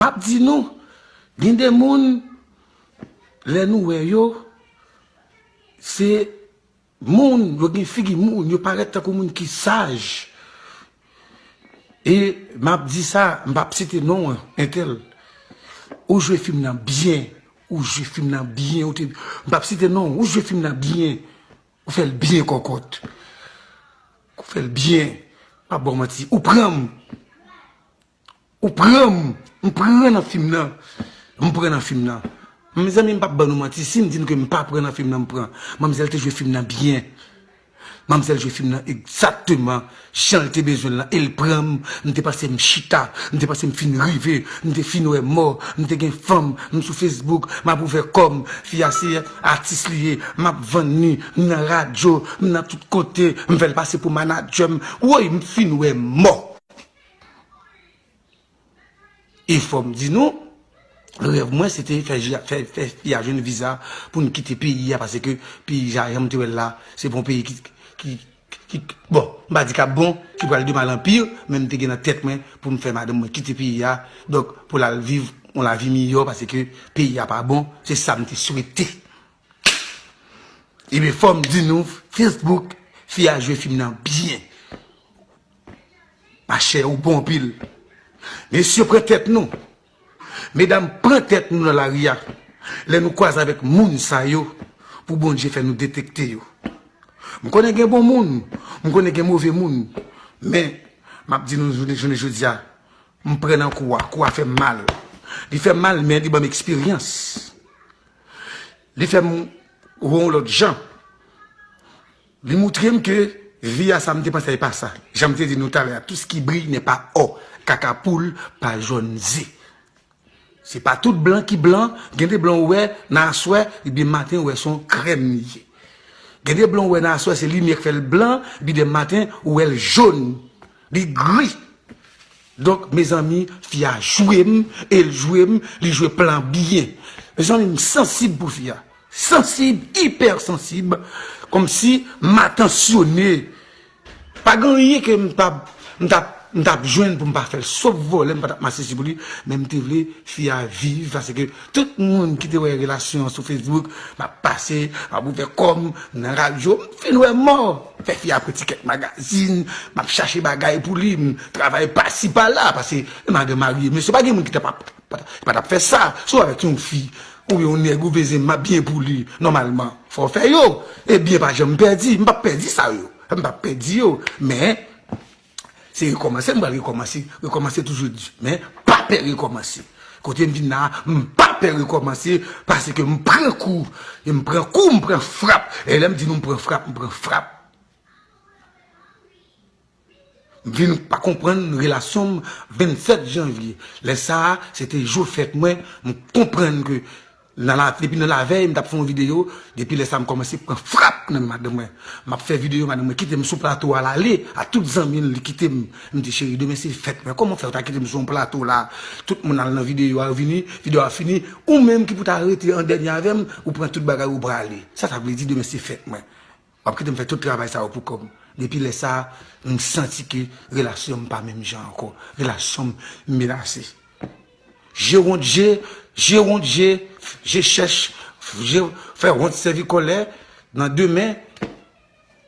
Map di nou, gen de moun lè nou wè yo, se moun, yo gen figi moun, yo parèt tankou moun ki saj. E map di sa, mpa p site non an, entèl. Ou jwe fim nan byen, ou jwe fim nan byen, ou te, mpa p site non, ou jwe fim nan byen, ou fèl byen kòkòt. Ou fèl byen, mpa p baw manti, ou pranm. Ou pranm, m pran nan fim nan, m pran nan fim nan. Mezanmi m pap ban nou manti, sim di nou ke m pa pran nan fim nan m pran. Manmzèl te jwe fim nan byen. Manmzèl jwe fim nan egzakteman janl te bezwenl lan el pranm, m te pase m chita, m te pase m fin rive, m te fin wè mò, m te gen fanm, m sou Facebook, map ouvè kòm, fi a se atis li ye, map vann li, m nan radyo, m nan tout kote, m fèl pase pou manadjèm, woy m fin wè mò. E fòm di nou, rèv mwen se te fè fi a jwenn viza pou n kite peyi a pase ke peyi a jan m te wè l la, se pa yon peyi ki bon, m pa di k ap bon, ki pral de mal an pi, men m te gen nan tèt mwen pou m fè madanm mwen kite peyi a, donk pou l al viv yon lavi miyò pase ke peyi a pa bon, se sa m te swete. E fòm di nou, Facebook, fi a jwe fim nan byen. Machè ou bon anpil. Mesye pran tèt nou. Medam pran tèt nou nan lari a. Lè nou kwaze avèk moun sa yo pou Bondye fè nou detekte yo. M konnen gen bon moun, m konnen gen move moun. Men, m ap di nou jounen jodi a, m pran nan kou a. Kou a fè m mal. Li fè m mal men li ban m eksperyans. Li fè m wè yon lòt jan. Li moutre m ke vi a sa m te panse a e pa sa. Jan m te di nou talè a, tout ce qui brille n'est pas or, kaka poul pa jòn ze. Se pa tout blan ki blan, gen de blan ou wè nan aswè ebyen maten ou wè se yon krèm li ye. Gen de blan ou wè nan aswè se limyè k fè l blan, ebyen de maten ou wè l jòn, li gri. Donk mezanmi fi a jwem el jwem li jwe plan byen mezanmi m sansib pou fi a sansib ipèr sansib komsi m atansyone pa gen anyen ke m tap m tap m tap jwenn pou m pa fèl sof vole m pa tap mache si pou li men m te vle fi a viv paske tout moun ki te wè relasyon an sou facebook m ap pase m ap ouvè kòm nan radyo m fin wè mò. Fè fi a pran ti kèk magazin, m ap chache bagay pou li, m travay pasi pala, pase m a gen marye. Mesye pa gen moun ki ta pap, ki pa ta p fè sa. Si w avèk yon fi, oubyen yon nèg ou veze m ap byen pou li, nòmalman, fò w fè yo. E byen pa janm pèdi, m pa p pèdi sa yo, m pa p pèdi yo. Men, Se rekòmanse m pral rekòmanse, rekòmanse toujou di, men pa pè rekòmanse. Kote m vin la a, m pa pè rekòmanse paske m pran kou, e m pran kou, m pran frap. E lè m di nou m pran frap, m pran frap. M vin pa konprann relasyon m 27 janvye. Lè sa a, se te jou fèt mwen, m konprann ke Depi nan lavèy m tap fè yon video depi lè sa m kòmanse pran frap nan men madanm mwen map fè video madanm mwen kitem sou plato a lale a tout zanmi l li kitem m di cheri demen se fèt mwen kòman w fè ou ta kitem sou yon plato la tout moun al nan video a yo vini video a fini ou menm ki pou ta rete an dènye avèm ou pran tout bagay ou prale sa sa vle di demen se fèt mwen. Wap kitem fè tout travay sa yo pou kòb, depi lè sa m santi ke relasyon m pa menm jan ankò, relasyon m menase. Je wont je, je wont je, je chèch, je fè wont sèvi kòlè, nan demen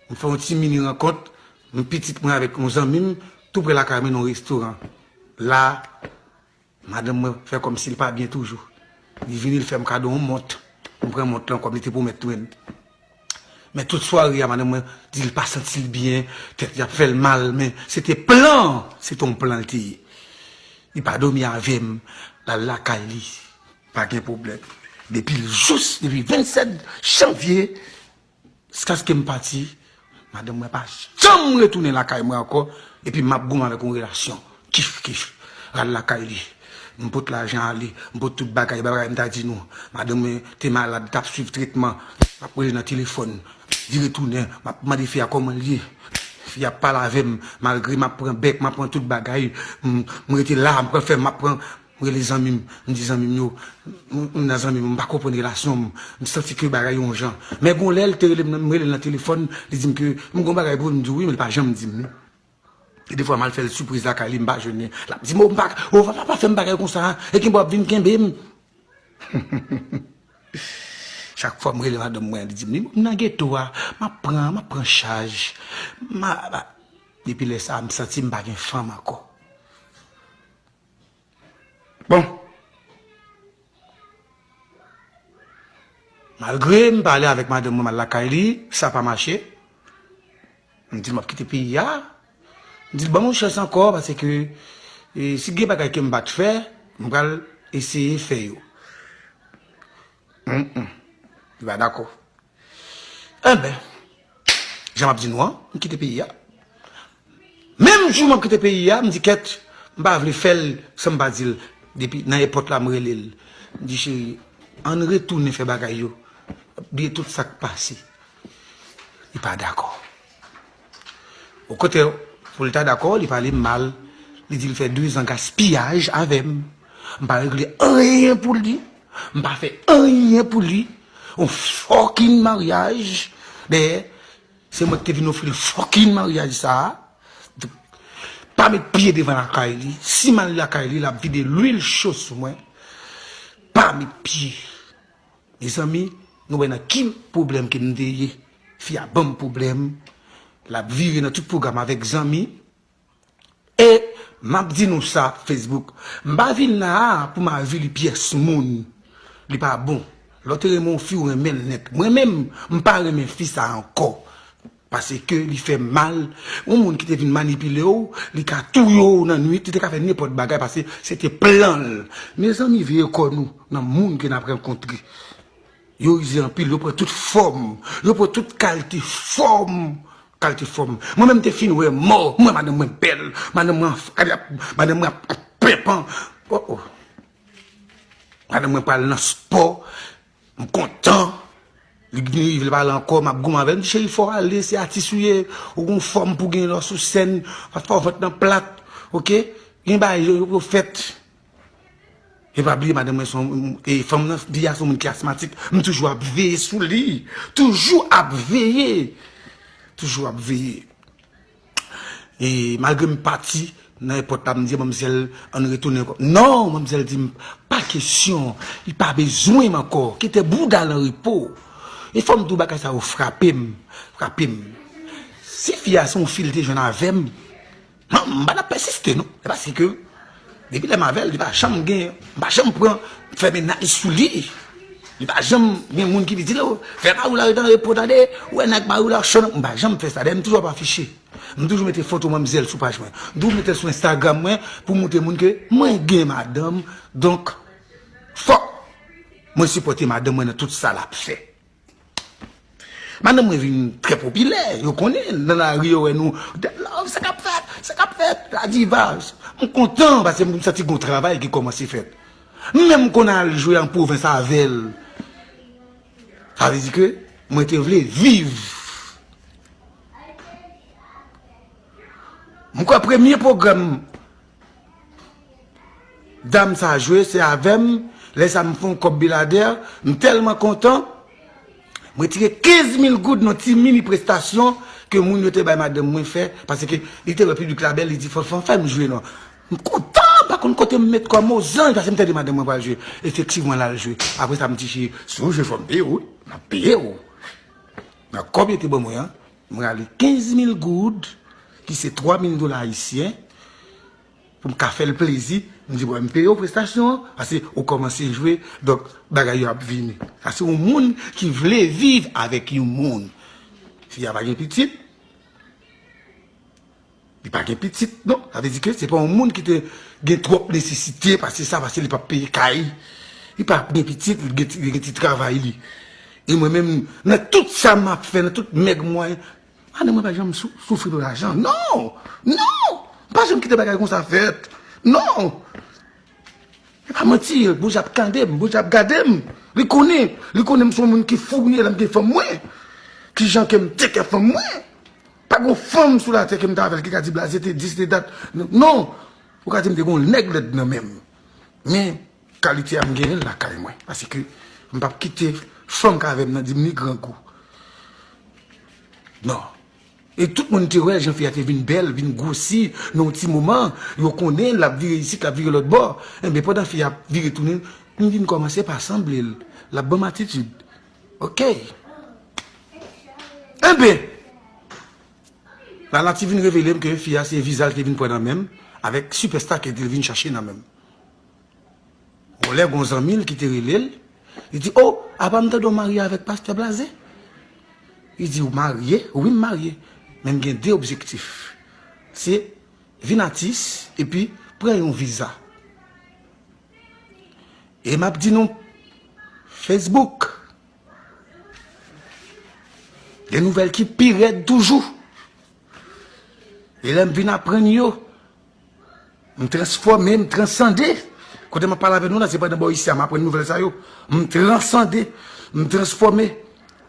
m fè yon ti mini rankont, m pitit mwen avèk yon zanmi m tou prè lakay mwen nan yon restoran. La. Madanm mwen fè kòm si l pa byen toujou. Li vini l fè m kado yon mont. M pran mont lan kòm li te pwomèt mwen. Men tout sware a madanm mwen di l pa santi l byen, tèt li ap fè l mal men se te plan an, se te yon plan l te ye. Li pa dòmi avè m, l al lakay li, pa gen pwoblèm. Depi l jous, depi 27 janvye. Jiskaske m pati, madanm mwen pa janm retounen lakay mwen ankò, epi m ap goumen avèk yon relasyon kif-kif. Ral lakay li, m pot lajan ale, m pot tout bagay, bagay m ta di nou. Madanm mwen te malad, t ap swiv tretman, m ap rele nan telefòn, li retounen, m ap mande fi a kòman l ye. Fi a ap pale avè m, malgre m ap pran bèk, m ap pran tout bagay, m rete la, m pran fèm, m ap pran. M rele zanmi m, m di zanmi m yo, m nan zanmi m, m pa konprann relasyon m, m santi ke bagay yo yon jan. Men gon lè l te rele m, m rele l nan telefòn, li di m ke m gon bagay pou l, m di l wi men li pa janm di m li. E defwa m al fè l sipriz lakay li, m pa jwenn li, l ap di m o m pa ka, o papa pa fè m bagay konsa, e kenbe w ap vin kenbe m. Chak fwa m rele madanm mwen an li di m li, m nan geto a, m ap pran, m ap pran chaj, m a, depi lè sa a m santi m pa gen fanm ankò. Bon. Malgre m pale avèk madanm mwen m al lakay li, sa pa mache. M di l m ap kite peyi a. M di l ban m yon chans ankò pase ke si gen bagay ke m pa t fè, m pral eseye fè yo. Li pa dakò. Enben, jan m ap di nou an, m kite peyi a. Menm jou m ap kite peyi a, m di Kèt, m pa vle fè l san m pa di l. Depi nan èpòt la, m rele l. M di, Cheri, an n retounen fè bagay yo, bliye tout sa k pase. Li pa dakò. Bon kote pou l ta dakò li pale m mal li di l fè dezan gaspiyaj avè m m pa regle anyen pou li m pa fè anyen pou li yon fòkinn maryaj dèyè se mwen ki te vin ofri l fòkinn maryaj sa a pa met pye devan lakay li si m al lakay li l ap vide lwil cho sou mwen pa met pye Mezanmi nou wè nan ki pwoblèm ke m te ye. Fi a banm pwoblèm, l ap vire nan tout pwogram avèk zanmi. E m ap di nou sa Facebook, m pa vin la a pou m avili pyès moun. Li pa bon lè w te renmen yon fi ou renmen l nèt. Mwen menm, m pa renmen fi sa ankò. Paske li fè mal, yon moun ki te vin manipile w, li ka touye w nan nwit, li te ka fè nenpòt bagay paske se te plan l. Mezanmi veye kò nou nan moun ke n ap rankontre. Yo rize anpil, yo pran tout fòm, yo pran tout kalte fòm, kalte fòm. Mwen menm m te fin wè mò, m wè madanm mwen bèl, madanm mwen madanm mwen ap penpan, o o. Madanm mwen pral nan spò. M kontan Li gin rive li pa la ankò map goumen avèl m di cheri fòw ale se atis ou ye ou gon fòm pou gin lò sou sèn pa fè vant nan plat ok gin bagay yo yo fèt e pa bliye madanm mwen son e fanm nan fi a son moun ki asmatik m toujou ap veye sou li toujou ap veye toujou ap veye. E malgre m pati nan èpòt la m di manmzèl an n retounen ankò. Non! Manmzèl di m pa kesyon, li pa bezwen m ankò, kite bouda l an repo. E fò m di w bagay sa yo frape m, frape m. Si fi a se yon fi li te jwenn avè m, m pa t ap pèsiste non. E paske. Depi lèm avèl li pa janm gen m pa janm pran fè mennaj sou li li pa janm gen moun ki vin dil fè mariw la rete an repo tande ou wè nèg mariw la cho nan m pa janm fè sa dayè m toujou ap afiche m toujou mete foto manmzèl sou paj mwen m toujou metel sou enstagram mwen pou m montre moun ke mwen gen madanm donk fòk mwen sipòte madanm mwen nan tout sa lap fè. Madanm mwen vin trè popilè, yo konnen n, nan lari yo wè nou, Dèm Love, sa k ap fèt? Sa k ap fèt? La Diva, m kontan paske m santi gon travay ki kòmanse fèt. M menm konn al jwe an pwovens avè l. Sa vle di ke mwen te vle viv. M kwè premye pwogram. Dam sa jwe se avem le sa m fon kob bilader m telman kontan m retire 15 mil goud nan ti mini prestasyon ke moun yo te bay madanm mwen fe paske li te we piblik la bel li di fon fon fem jwe non m kontan pa konn kote m met kom o zanj paske m tande madanm mwen pral jwe efektivman lal jwe apresa m di cheri si w jwe fom peye w wi m ap peye w nan kob yo te ban mwen an M rale 15 mil goud, ki se 3 mil dola ayisyen, pou m ka fè l plezi. M di, bon, m peye w prestasyon an, pase ou kòmanse jwe, donk bagay yo ap vini. Sa se yon moun ki vle viv avèk yon moun. Fi a pa gen pitit. Li pa gen pitit non, sa vle di ke se pa yon moun ki te gen twòp nesesite, pase sa, pase li pa peye kay, li pa gen pitit, li gen ti travay li. E mwen menm, nan tout sa m ap fè, nan tout mèg mwen, madan mwen pa janm soufri pou lajan, non! Non! M pa janm kite bagay konsa fèt, non! E pa manti, Bondye ap tande m, Bondye ap gade m, li konnen, li konnen m son moun ki fourye lè m gen fanm mwen, ki jan ke m teke fanm mwen. Pa gon fanm sou latè kem ta avèl ki ka di blaze te di se te dat non ou ka dim te gon nèg lèd nan menm men kalite a m genyenl lakay mwen paske m pap kite fanm ka avèm nan dim li grangou nan e tout moun te wè jan fi a te vin bèl vin gwosi nan yon ti moman yo konnen lap vire isit lap vire lòtbò enben pandan fi a vire tounen m vin kòmanse pa sanblel lap banm atitid. Ok. Enben! Lala te vin revele m ke fi a se viza li te vin pran nan men m avèk sipèsta ke li te vin chache nan men m. Bon, lè gen yon zanmi l ki te rele l, li di, O! Apa m tande w marye avèk pastè Blaze? Li di, Ou marye? Wi, m marye. Men m gen de objektif. Se vin atis epi pran yon viza. E map di nou, Facebook, gen nouvèl ki pi rèd toujou. E lèm vin aprann yo, m transfòme, m transande. Kote map pale avè nou la, se pa nan bò isi a m aprann nouvèl sa yo. M transande, m transfòme,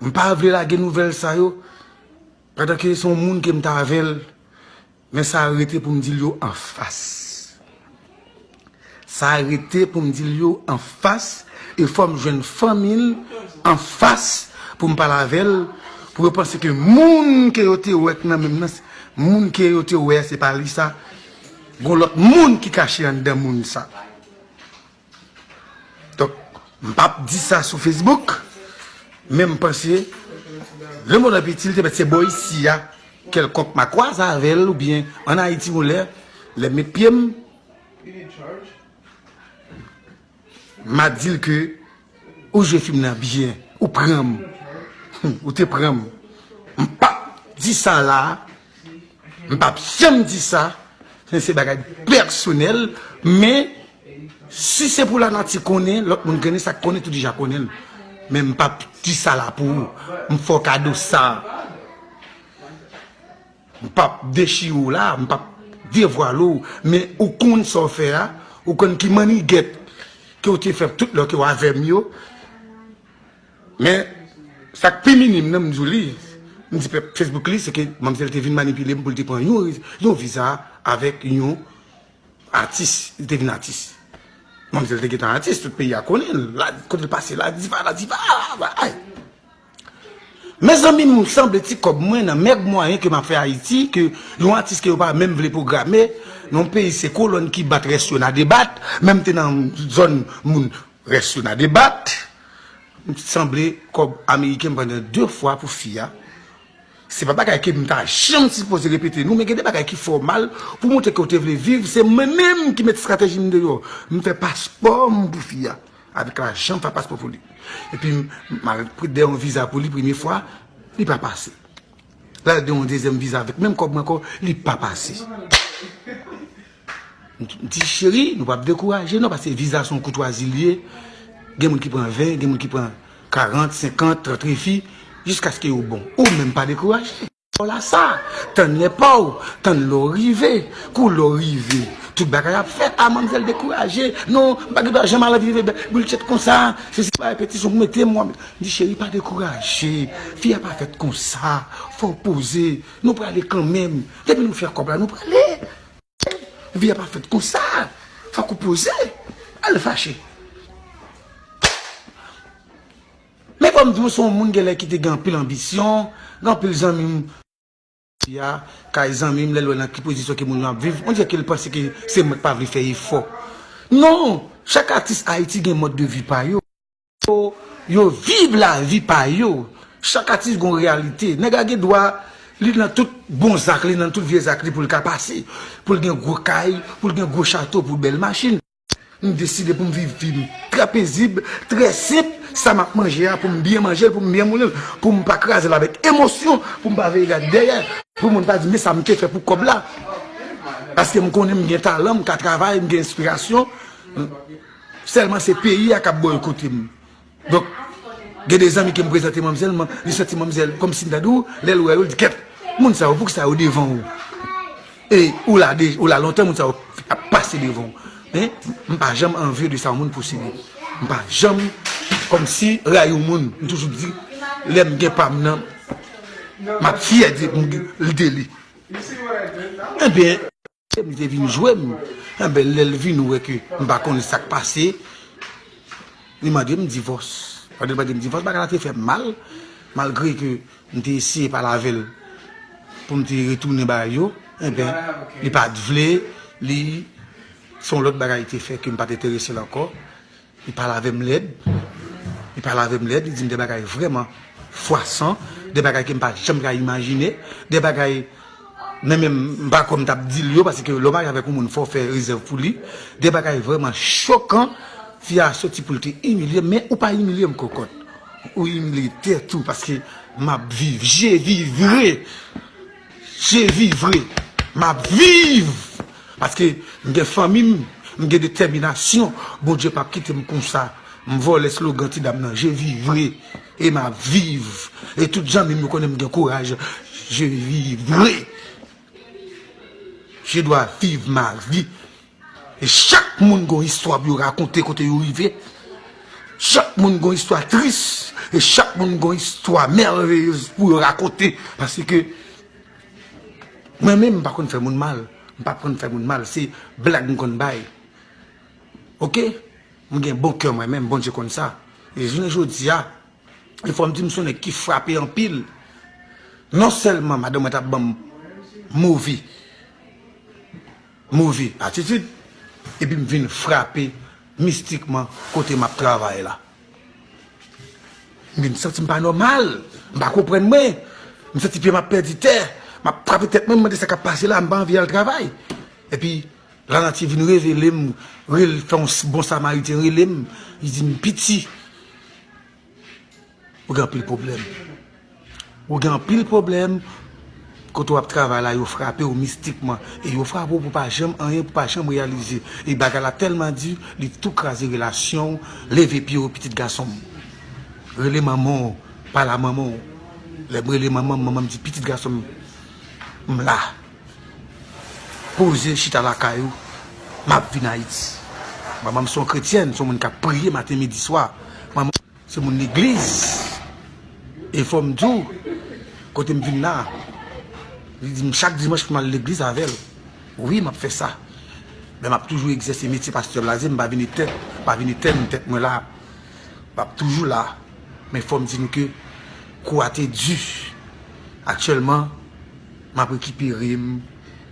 m pa vle lage nouvèl sa yo. Padan ke se yon moun ke m ta avèl. Men sa rete pou m di l yo an fas. Sa rete pou m di l yo an fas e fò m jwenn fanmi l an fas pou m pale avè l pou yo panse ke moun ke yo te wè k nan menm nan, moun ke yo te wè a se pa li sa. Gon lòt moun ki kache anndan moun sa. Donk, m pa p di sa sou Facebook, men m panse, le mond an piti, li te mèt se bò isi a, kèlkonk ma kwaze avè l, oubyen an Ayiti yon lè, lè m met pye m, ma di l ke ou jwe fim nan byen, ou pran m, ou te pran m. M pa p di sa la, m pa p janm di sa, se bagay pèsonèl, men. Si se pou lanati konnen, lòt moun knnen sa k konnen tou deja konnen l. Men m pap di sa la pou ou. M fè w kado sa. M pap dechire w la, m pap devwale w. Men ou konn sa w fè a, ou konn ki mannigèt ke w te fè tout lè w te avè m yo. Men sa k pi minim nan m di w li, m di pèp Facebook li, se ke manmzèl te vin manipile m pou l te pran yon viza avèk yon. Atis, li te vin atis. Manmzèl te gentan atis, tout peyi a konnen l. La, kote l pase, la diva, la diva, la ay. Mezanmi m sanble ti kòb mwen nan mèg mwayen ke m ap fè Ayiti, ke yon atis ke yo pa menm vle pwograme, nan yon peyi se kolòn ki bat rès yo nan debat, menm te nan zòn moun rès yo nan debat. M sanble kòb ameriken m pran nan 2 fwa pou fi a, Se pa bagay ke m ta janm sipoze repete nou men gen de bagay ki fè w mal pou montre ke w te vle viv se mwen menm ki met strateji m deyò m fè paspò m pou fi a avèk lajan m fè paspò pou li epi m al de yon viza pou li premye fwa li pa pase lal de yon dezyèm viza avèk menm kòb mwen ankò li pa pase. M di cheri nou pap dekouraje nan pase viza son koutwazi li ye gen moun ki pran 20 gen moun ki pran 40 50 30 refi jiskaske yo bon ou menm pa dekouraje. Paw la sa, tann lè paw, tann lè w rive, kou lè w rive tout bagay ap fèt, ah manmzèl dekouraje, non m pa gen dwa janm al viv bultchet konsa, se si pa repetition pou mete m m di cheri pa dekouraje, fi a pa fèt konsa, fòw poze, nou prale kanmenm, depi nou fè kòb la nou prale. Vi a pa fèt konsa, fòk ou poze, al fache. Men kòm di ou se yon moun genlè ki te gen anpil anbisyon, gen anpil zanmi m. Fi a, kay zanmi m, lè l wè nan ki pozisyon ke moun yo ap viv, on dirè ke l panse ke se mwen k pa vle fè efò. Non, chak atis Ayiti gen mòd de vi pa yo. Fo yo viv lavi pa yo. Chak atis gon reyalite. Nèg la gen dwa li nan tout bon zak li, nan tout vye zak li pou l ka pase. Pou l gen gwo kay, pou l gen gwo chato, pou bèl machin. M deside pou m viv vi m trè pezib, trè senp. Sa m ap manje a pou m byen manje l, pou m byen moulin l. Pou m pa kraze l avèk emosyon, pou m pa veye gade dèyè. Pou moun pa di men sa m te fè pou kòb la. Paske m konnen m gen talan, m ka travay, m gen enspirasyon. Selman se peyi a kap boykote m. Donk gen de zanmi ke m prezante manmzèl m, li santi manmzèl kom si m ta di w, lè l wè yo li di kèt. Moun sa yo pou kisa yo devan ou? E ou la de, ou la lontan moun sa yo ap pase devan ou. Men m pa janm anvye de sa yon moun posede. M pa janm kom si rayi yon moun. M toujou di lè m gen pa m nan map fyè de li. Enben. Sèm li te vin jwe m, enben lè l vin wè ke m pa konn sa k pase, li mande m divòs. Lè li mande m divòs, bagay la te fè m mal, malgre ke m te eseye pale avè l pou m te retounen bay yo, enben li pa t vle, li, se yon lòt bagay te fè ke m pa t enterese l ankò. Li pale avè m lèd, li pale avè m lèd, li di m de bagay vrèman fwasan, de bagay ke m pa janm ka imajine, de bagay men menm m pa kwè m t ap di l yo, paske lè w marye avèk yon moun fò w fè rezèv pou li, de bagay vrèman chokan, fi a soti pou l te imilye m, men ou pa imilye m kòkòt, ou imilye tèt ou, paske m ap viv, je vivrai! Jezi vre map viv paske m gen fanmi m m gen detèminasyon Bondye pap kitem konsa m vòlè slogan ti dam nan Jezi vre e map viv e tout zanmim yo konnen m gen kouraj Jezi vre je dwa viv ma vi. Chak moun gon istwa pou yo rakonte kote yo rive, chak moun gon istwa tris, e chak moun gon istwa mèrveyez pou yo rakonte, pase ke mwen menm m pa konn fè moun mal, m pa konn fè moun mal, se blag m konn bay, ok, m gen bon kè mwen menm, Bondye konn sa, e jounen jodi a, e fò m di m son nèg ki frape anpil, non sèlman madanm mwen ta ban m move. move atitid epi m vin frape mistikman kote m ap travay la. M vin santi m pa nòmal, m pa konprann mwen, m santi pye m ap pèdi tè, m ap frape tèt mwen, m mande sa k ap pase la, m pa anvi al travay. Epi, Lanati vin revele m, fè yon bon samariten rele m, li di m, Piti! Ou gen anpil pwoblèm. Ou gen anpil pwoblèm. Kote w ap travay la yo frape w mistikman. E yo frape w pou pa janm anyen, pou pa janm reyalize. E bagay la tèlman di, li tou kraze relasyon w. Leve pye w pitit gason m. Rele manman w. Pale a manman w. Lè m rele manman m, manman m di pitit gason m. M la. Poze chita lakay ou. M ap vin Ayiti. Manman m se yon kretyèn, se yon moun k ap priye maten, midi, swa. Se moun legliz, e fòm di w, kote m vin la, li di m chak dimanch pou m al legliz avè l. Wi, m ap fè sa. Men m ap toujou egzèse metye pastè blaze, m pa vin etèn, m pa vin etèn nan tèt mwen la. M ap toujou la. Men fòm di nou ke kou a te di. Aktyèlman. M ap rekipere m,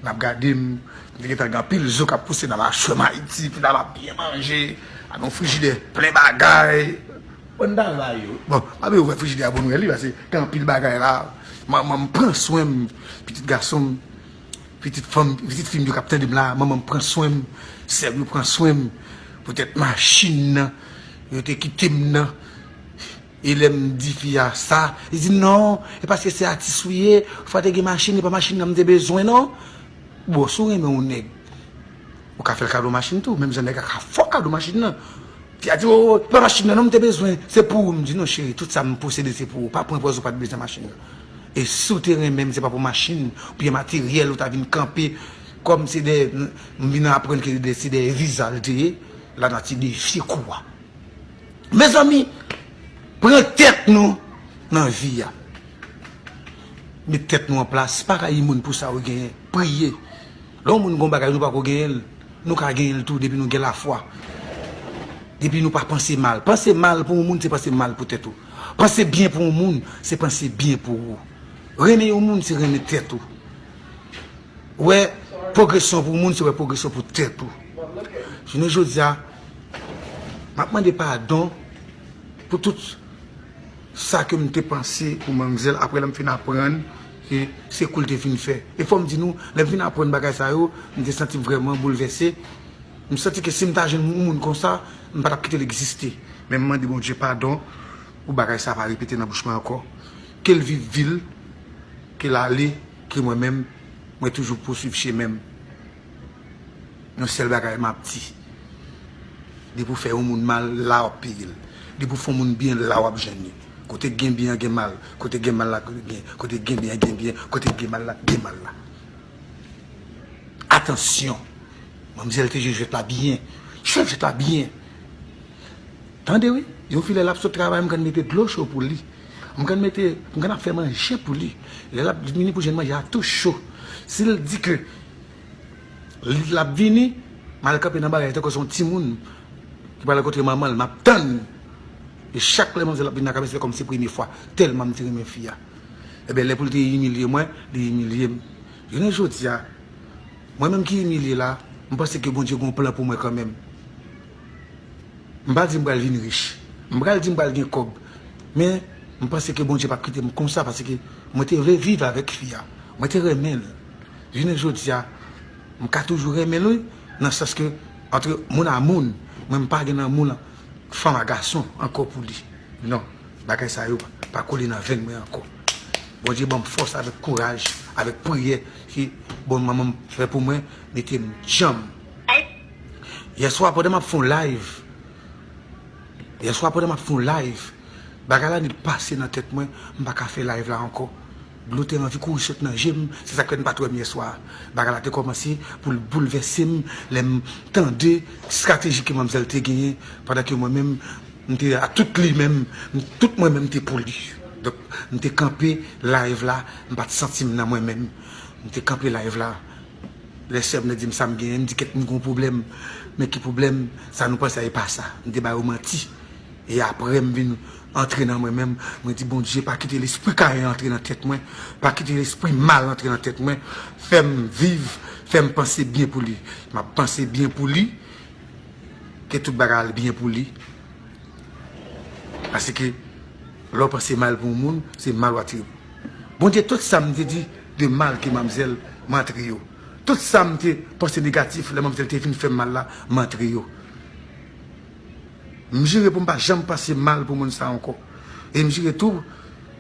n ap gade m, m te gentan gen anpil zo k ap pouse nan machwè m Ayiti, m ap byen manje, ak yon frijidè plen bagay. Bon bagay yo. Bon, m ap ouvè frijidè a pou m wè li pase gen anpil bagay la. Manman m pran swen m, pitit gason m, pitit fanm m, pitit fi m yo k ap tande m la, manman m pran swen m, sè m yo pran swen m. Petèt machin nan yo te kite m nan. E lè m di fi a sa, li di m non, e paske se atis ou ye, ou pa te gen machin, e pa machin nan m te bezwen non. Bon, si w renmen yon nèg, ou ka fè l kado machin tou, menm jan nèg la ka fè w kado machin nan. Fi a di, o, se pa machin nan non m te bezwen, se pou ou. M di, non cheri, tout sa m posede se pou ou, pa pran pòz ou pa t bezwen machin nan. E si w te renmen m, se pa pou machin, oubyen materyèl ou ta vin kanpe, kòm se dèyè, m vin aprann ke se dèyè viza l te ye, lanati defye kou a. Mezanmi pran tèt nou nan vi a. Met tèt nou an plas, pa rayi moun pou sa yo genyen. Priye. Lè yon moun gen yon bagay nou pako genyen l, nou ka genyen l tou depi nou gen lafwa. Depi nou pa panse mal. Panse mal pou yon moun se panse mal pou tèt ou. Panse byen pou yon moun se panse byen pou ou. Renmen yon moun se renmen tèt ou. Wè pwogresyon pou yon moun se wè pwogresyon pou tèt ou. Jounen jodi a. Map mande padon pou tout sa kem te panse pou manmzèl aprè lèm fin aprann ke se koul te fin fè. E fòm di nou lèm fin aprann bagay sa yo, m te santim vrèman boulvèse, m santi ke sim ta jwenn yon moun konsa m patap kitel egziste. Men m mande Bondye padon pou bagay sa pa repete nan bouch mwen ankò. Kel viv vil, kel ale ke mwen menm mwen toujou pouswiv chemenm. Yon sèl bagay map di. Depi ou fè yon moun mal, la wap peyel. Depi ou fè yon moun byen, la wap jwenn li. Kote gen byen an gen mal, kote gen mal la gen byen, kote gen byen an gen byen, kote gen mal la gen mal la. Atansyon! Manmzèl te jwe jwèt la byen. Jwèt jwèt la byen. Tande wi, yon fi lè lap sot travay m konn mete dlo cho pou li. M konn mete, m konn ap fè manje pou li. Lè lap vini pou jwenn manje a tou cho. Sil di ke. Li lap vini, mal kanpe nan bagay tankou son timoun ki pral rankontre manmanl map tann e chak lè manzè ap vin nan kay mwen se kòm se premye fwa tèlman m te renmen fi a ebyen lè poul te imilye mwen li imilye m jounen jodia mwen menm ki imilye la m panse ke Bondye gon plan pou mwen kanmenm m pa di m pral vin rich m pral di m pral gen kòb men m panse ke Bondye pap kite m konsa paske mwen te vle viv avèk fi a mwen te renmenl Jounen jodi a m ka toujou renmen l wi nan sans ke antre moun a moun mwen m pa gen lanmou lan fanm a gason ankò pou li non bagay sa yo pa kole nan venn mwen ankò Bondye ban m fòs avèk kouraj avèk priyè ke bon manman m fè pou mwen mete m djanm yèswa pandan m ap fè yon live yèswa pandan m ap fè yon live bagay la ni pase nan tèt mwen m pa ka fè live la ankò. Dlo te anvi kouri sot nan je m, se sa k fè n pa t wè m yè swa a. Bagay la te kòmanse pou l boulvèse m lè m tande estrateji ke manmzèl te genyen pandan ke mwen menm m te ak tout li menm, tout mwen menm te pou li. Donk, m te kanpe live la, m pa t santi m nan mwen menm. M te kanpe live la, lè sè m nan di m sa m genyen, m di kèk moun gen yon pwoblèm, men ki pwoblèm, sa nou panse a e pa sa. M te ba yo manti e aprè m vin. Antre nan mwen menm, mwen di Bondye pa kite lespri Kayen antre nan tèt mwen, pa kite lespri mal antre nan tèt mwen, fè m viv, fè m panse byen pou li. M ap panse byen pou li, ke tout bagay al byen pou li, paske lè w panse mal pou yon moun, se mal w atire. Bondye tout sa m te di de mal ke manmzèl, m antre yo. Tout sa m te panse negatif lè manmzèl te vin fè m mal la, m antre yo. M jire pou m pa janm panse mal pou moun sa ankò. E m jire tou,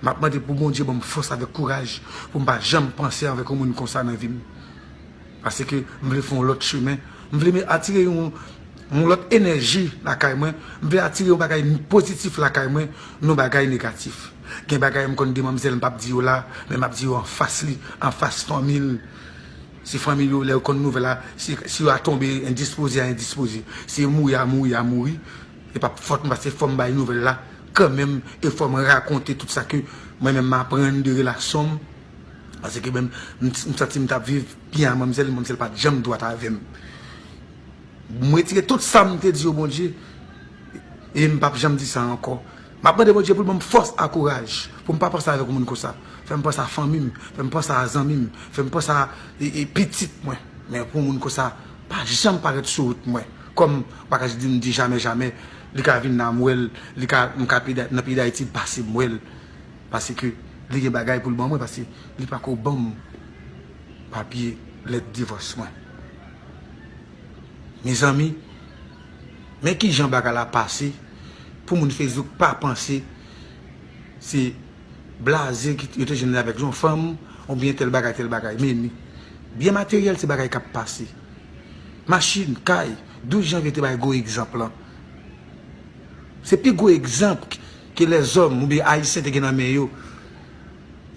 m ap mande pou Bondye ban m fòs avèk kouraj pou m pa janm panse avèk yon moun konsa nan vi m. Paske m vle fè yon lòt chemen. M vle me atire yon lòt enèji lakay mwen. M vle atire yon bagay pozitif lakay mwen, non bagay negatif. Gen bagay m konn di manmzèl m p ap di yo la, men m ap di yo anfas li, anfas fanmi l. Si fanmi yo lè yo konn nouvèl la, si yo a tonbe endispoze a endispoze, si yo mouri a mouri a mouri, e pap fòt mwen paske fòm bay nouvèl la kanmenm e fòm rakonte tout sa ke mwen menm m aprann de relasyon m pase ke menm m santi m tap viv byen a manmzèl, manmzèl pat janm dwat avèm. M retire tout sam te di yo Bondye e m pap janm di sa ankò. Map mande Bondye poul banm fòs a kouraj poum pa panse avèk yon moun konsa fèm panse a fanmim fèm panse a zanmim fèm panse a pitit mwen men pou yon moun konsa pa janm parèt sou wout mwen kòm bagaj dim di jamè jamè li ka vin la mwèl li ka m ka nan peyi dayiti m pase mwèl paske li gen bagay poul ban mwen paske li pako banm papye lèt divòs mwen mezanmi. Men kijan bagay la pase pou moun Facebook pa panse se blaze ki yo te jwenn li avèk yon fanm oubyen tèl bagay tèl bagay. Meni, byen materyèl se bagay k ap pase. Machin, kay, 12 janvye te bay gwo egzanp lan. Se pi gwo egzanp ke lèzòm oubyen Ayisyen te gen nan men yo.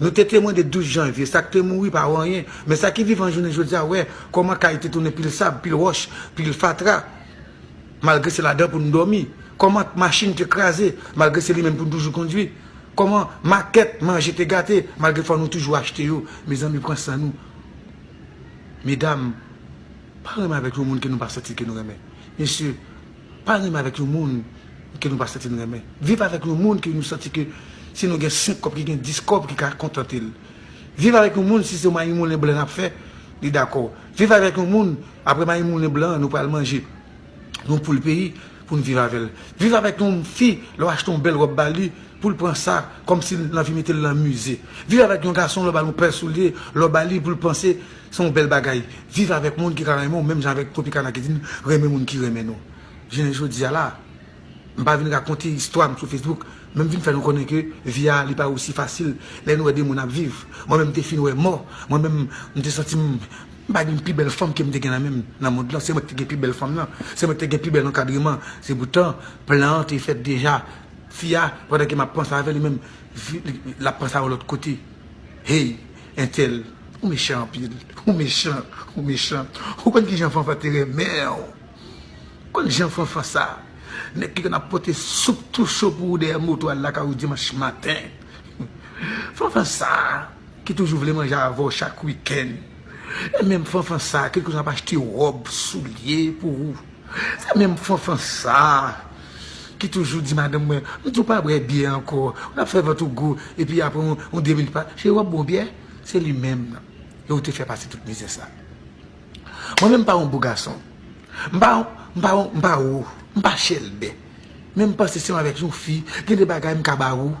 Nou te temwen de 12 janvye, sa k te mouri pa anyen, men sa ki vivan jounen jodi a wè kòman kay te tounen pil sab, pil wòch, pil fatra, malgre se ladan pou n dòmi, kòman machin te kraze, malgre se li menm pou n toujou kondui, kòman makèt manje te gate, malgre fò nou toujou achte yo. Mezanmi, pran san nou. Medam, pa renmen avèk yon moun ke nou pa santi ke nou renmen. Mesye, Pa renmen avèk yon moun ke nou pa santi n renmen. Viv avèk yon moun ke nou santi ke si nou gen 5 kòb ki gen 10 kòb ki ka kontante l. Viv avèk yon moun si se mayi moulen blan nap fè li dakò. Viv avèk yon moun apre mayi moulen blan an nou pral manje yon poul peyi pou n viv avèl. Viv avèk yon fi lè w achte yon bèl ròb ba li pou l pran sa kòm si l anvi mete l nan mize. Viv avèk yon gason lè w ba l yon pè soulye lè w ba li pou l panse Se yon bèl bagay viv avèk moun ki ka renmen w menm jan avèk Tropicana ki di n renmen moun ki renmen nou. Jounen jodi a la, m pa vin rakonte istwa m sou Facebook, men m vin fè nou konnen ke vi a li pa osi fasil lè n wè de moun ap viv. Mwen menm m te fin wè mò, mwen menm m te santi m m pa gen pi bèl fanm ke m te gen nan men m nan mond lan, se mwen ki te gen pi bèl fanm nan, se mwen ki te gen pi bèl ankadreman, se poutan plan an te fèt deja. Fi a, pandan ke m ap panse avè l, li menm, li, l ap panse a yon lòt kote. Hey! Entel ou mechan anpil ou mechan ou mechan ou konn kijan fanfan te renmenw ou konn jan fanfan sa nèg ki konn ap pote soup tou cho pou ou dèyè moto al lakay ou dimanch maten fanfan sa ki toujou vle manje avèw chak wikenn e menm fanfan sa ki toujou ap achte rob soulye pou ou. Se menm fanfan sa ki toujou di madanm mwen, m di w pa bwè byè ankò, ou nan fè vant ou gou, epi apre yon de minit, cheri w ap bwè yon byè? Se li menm nan, e ou te fè pase tout mizè sa. Mwen menm m pa yon gwo gason, m pa yon, m pa yon, m pa wo, m pa chèlbè, men m panse se yon avèk yon fi, gen de bagay m ka ba ou,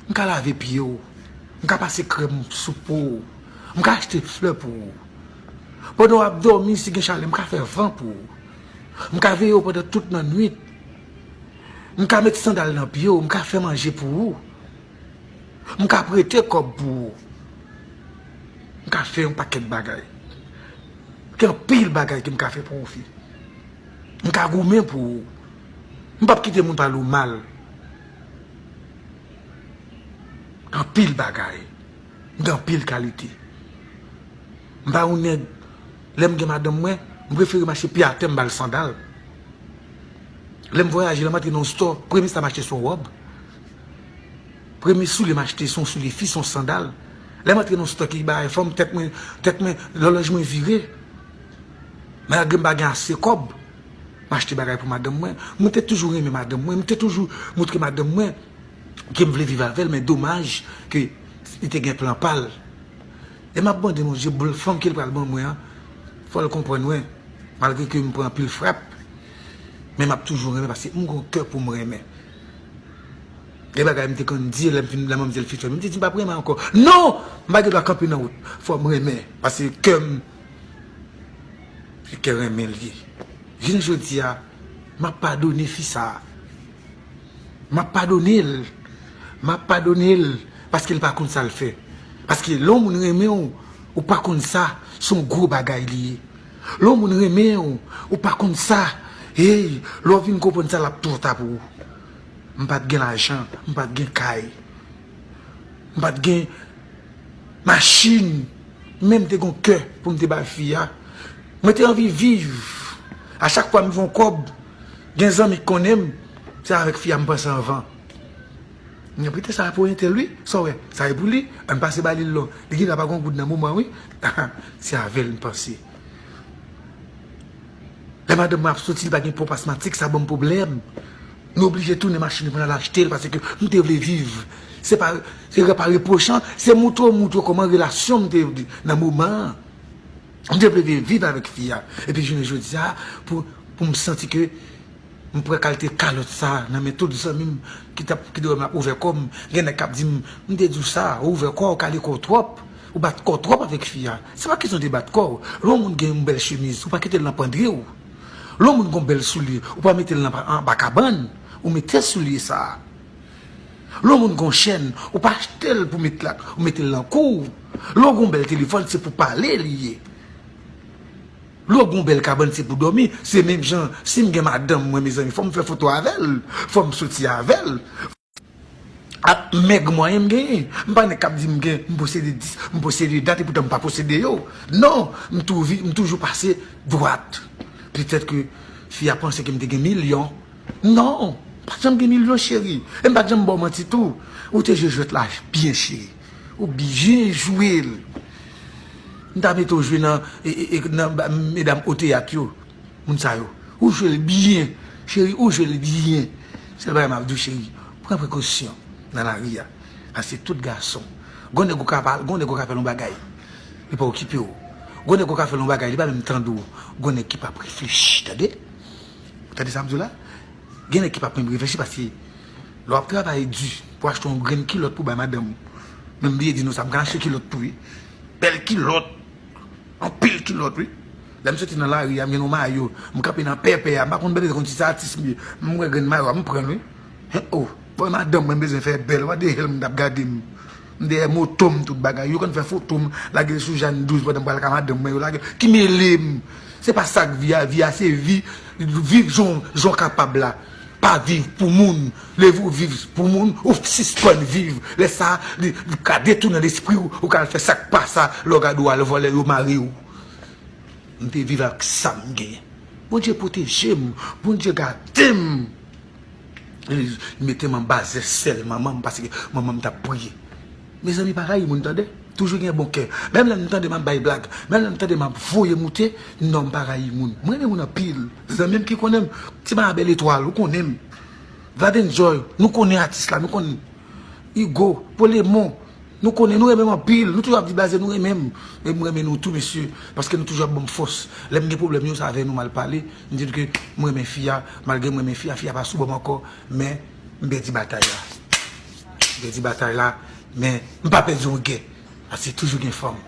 m ka lave pye w, m ka pase krèm sou po w, m ka achte flè pou ou. Pandan w ap dòmi, si gen chalè, m ka fè van pou ou. M ka veye w pandan tout nan nwit. M ka met sandal nan pye w, m ka fè manje pou ou. M ka prete kòb pou ou. M ka fè yon pakèt bagay. Gen anpil bagay ke m ka fè pou ou fi. M ka goumen pou ou. M p ap kite moun pale w mal. Anpil bagay. M gen anpil kalite. M pa yon nèg, lè m gen madanm mwen, m prefere m achte pye atè m ba l sandal. Lè m vwayaje, lè m antre nan yon stò, premye sa m achte se yon wòb. Premye soulye m achte se yon soulye fi, se yon sandal. Lè m antre nan yon stò ki bagay fanm, tèt mwen, tèt mwen, lòlòj mwen vire. Malgre m pa gen ase kòb, m achte bagay pou madanm mwen. Mwen te toujou renmen madanm mwen, m te toujou moutre madanm mwen Kem vle viv avèl men domaj ke li te gen plan pal e map mande bon Dye boul fanm kel pral ban mwen an fòl konprann mwen malgre kem pran anpil frap men map toujou renmen paske m gon kè poum renmen gen bagay m te konn di lèm fin la manmzèl fin fèm m te di m pap renmen ankò non m pa gen dwa kanpe nan wout fòm renmen paske kèm se kè renmen l ye jounen jodia map padone fi sa. Map padone l. Map padone l paske l pa konn sa l fè. Paske lè yon moun renmen w, ou pa konn sa, se yon gwo bagay li ye. Lè yon moun renmen w, ou pa konn sa, hey, lè w vin konprann sa l ap twò ta pou ou. M pa t gen lajan, m pa t gen kay, m pa t gen machin, men m te gen yon kè pou m te bay fi a. Mwen te anvi viv. A chak fwa m gen yon kòb. Gen zanmi k konnen m se avèk fi a m panse anvan. Mwen pete sa pou entèl wi, sa w wè? Sa e pou li? An n pase ba li l lò. Li gen dwa pa gen yon goud nan moman an wi. Aha, se avè l m panse. Lè madanm mwen ap soti li pa gen ponp asmatik sa ban m pwoblèm. Nou oblije tounen machin pou n al achte l paske m te vle viv. Se pa repwochan, se montre w montre w kòman relasyon m te nan moman an. M te vle vin viv avèk fi a. Epi jounen jodi a, pou m santi ke m pran kalte kalòt sa nan men tout zanmi m ki te wè m ap ouvè kò m, gen nèg k ap di m, m te di w sa, ou ouvè kò w, ou kale kò w twòp, ou bat kò w twòp avèk fi a. Se pa kesyon de bat kò w. Lè yon moun gen yon bèl chemiz, ou pa kite l nan pandri w. Lè yon moun gen yon bèl soulye, ou pa mete l anba kabann. Ou mete soulye sa a. Lè w moun gen yon chèn, ou pa achte l pou met lak, ou mete l nan kou w. Lè w gen yon bèl telefòn, se pou pale li ye. Lè w gen yon bèl kabann, se pou dòmi. Se menm jan, si m gen madanm mwen, mezanmi, fò m fè foto avè l, fò m soti avè l, fò m. Ak mèg mwayen m genyen. M pa nèg k ap di m gen, m posede dis, m posede dat, epoutan m pa posede yo. Non! M toujou pase dwat. Petèt ke fi a panse ke m te gen milyon. Non, mpat janm gen milyon cheri, e mpat janm baw manti tou, ou te jwe jwèt la byen cheri, ou byen jwel, mta mete ou jwe nan medam o teyat yo, moun sa yo, ou jwel byen cheri, ou jwel byen, sèl bagay map diw cheri, pran prekosyon nan lari a, paske tout gason, gon nèg ou ka pale, gon nèg ou ka fèl yon bagay, li pa okipew, gon nèg ou ka fèl yon bagay li pa menm tande w, gon nèg ki pap reflechi tande. Ou tande sa m di w la? Gen nèg ki pap menm reflechi paske lè w ap travay di pou achte yon grenn kilòt pou bay madanm ou, men m bliye di nou sa, m ka achte kilòt tou wi, bèl kilòt, anpil kilòt wi. Lè m soti nan lari a, m jwenn yon mayo, m kanpe nan pèpè a, m pa konn bèlè, m pa konn si se atis m ye, m wè grenn mayo a, m pran l wi. Hen o! Bon, madanm mwen m bezwen fè bèl, w gade jan l m ap gade m. M dèyè moto m tout bagay. Yo konn fè foto m lage l sou Jane 12 pandan m pral ka madanm mwen yo lage l. Ki mele m? Se pa sa k vi a. Vi a se vi. Viv jan w kapab la. Pa viv pou moun. Leve ou viv pou moun, ou sispann viv. Lè sa a, li ka detounen lespri ou, ou ka al fè sa k pa sa. Lè w gade ou al vòlè, yo mare ou. M te viv ak sa m gen. Bondye pwoteje m. Bondye gade m. Li metem anba zè sèl manmanm paske manmanm tap priye Mezanmi pa rayi moun tande toujou gen bon kè menm lèm tande map bay blag menm lèm tande map voye moute non mpa rayi moun m renmen moun anpil zanmim ki konnenm ti ma bèl etwal ou konnenm Gladen Joy nou konnen atis la nou konn Hugo pou lemon nou konnen nou renmenm anpil nou toujou ap di blaze nou renmenm men m renmen nou tou mesye paske nou toujou ap banm fòs lèm gen pwoblèm yo se avè nou mal pale. M di l ke m renmen fi a, malgre m renmen fi a, fi a pa sou bò m ankò, men m pèdi batay la. M pèdi batay la, men m pa pèdi yon gè, paske toujou gen fanm.